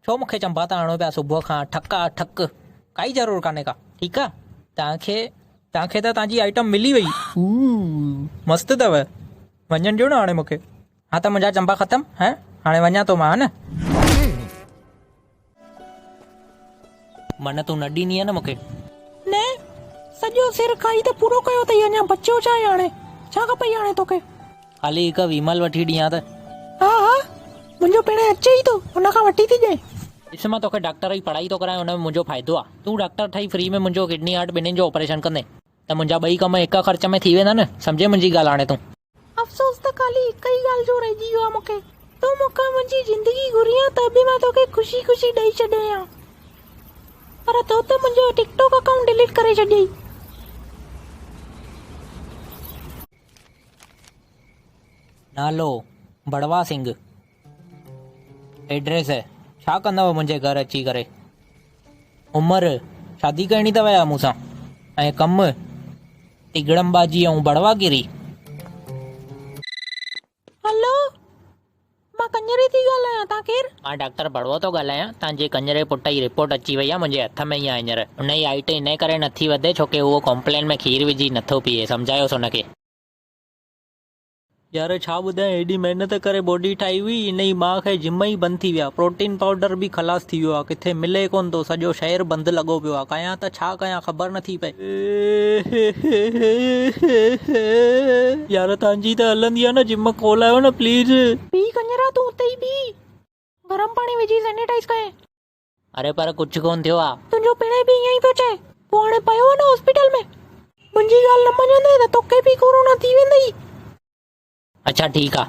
ڇو مونکي چنبا ته آڻو پيا صبح کان ٺڪ آ ٺڪ ڪائي ضرور ڪاني ڪا ٺيڪ آ توکي توکي ته توجي آئٽم ملي وئي مست تؤ وڃڻ ڏيو ن هاڻي مونکي ها ته منهنجا چنبا ختم ها هاڻي وڃان ٿو مان ها نه. من تون نه ڏيندينء نه مون کي. نه سڄو سر کائي ته پورو ڪيو اٿئي اڃان بچيو ڇا آهي هاڻي ڇا کپئي هاڻي توکي. هلي هڪ ويمل وٺي ڏيان ته. ها ها منهنجو پيڻ اچي ئي ٿو ان کان وٺي ٿي ڏيانء. ڏس مان توکي ڊاڪٽر جي پڙهائي ٿو ڪرايان ان ۾ منهنجو فائدو آ تون ڊاڪٽر ٺهي فري ۾ منهنجو ڪڊني هارٽ ٻنهين جو آپريشن ڪندين ته منهنجا ٻئي ڪم هڪ خرچ ۾ ٿي ويندا نه سمجهين منهنجي ڳالهه هاڻي تون. افسوس ته خالي هڪ ئي ڳالهه جو رهجي ويو آهي مون کي. تون مون کان منهنجي زندگي گهرين ها ته به مان توکي خوشي خوشي ڏئي ڇڏينء ها پر تو ته منهنجو ٽڪ ٽاڪ اڪائونٽ ڊليٽ ڪري ڇڏيئي. نالو، بڙوا سنگهه، ايڊريس ڇا ڪندؤ منهنجي گهر اچي ڪري. عمر شادي ڪرڻي اٿو يا مون سان ۽ ڪم تيڳڙم بازي ۽ بڙوا گيري. هلو مان ڪڃري ٿي ڳالهايان تان ڪير؟ مان ڊاڪٽر بڙوو ٿو ڳالهايان تنهنجي ڪڃري پٽ جي رپورٽ اچي وئي آهي منهنجي هٿ ۾ ئي آهي هينئر ان جي هائيٽ انهي ڪري نٿي وڌي ڇوڪه اهو ڪومپلين ۾ کير وجهي نٿو پيئي سمجهايوس ان کي. يار ڇا ٻڌايان ايڏي محنت ڪري باڊي ٺاهي هئي انهي مان کي جم ئي بند ٿي ويا پروٽين پائوڊر به خلاص ٿي ويو آ ڪٿي ملي ڪونه ٿو سڄو شهر بند لڳو پيو آ ڪيان ته ڇا ڪيان خبر نه ٿي پئي. ايهه يار تهنجي ته هلندي آ نه جم کولايو نه پليز. بيهه ڪڃرا تون اتي ئي بيهه گرم پاڻي وجهي سينيٽائيز ڪئين. اري پر ڪجهه ڪونه ٿيو آ. تنهنجو پيڻئي به ائين ئي پيو چئي. پوء هاڻي پيو آ نه هاسپيٽل ۾. منهنجي ڳالهه نه مڃيندين ته توکي به ڪورونا ٿي ويندئي. اڇا ٺيڪ آ.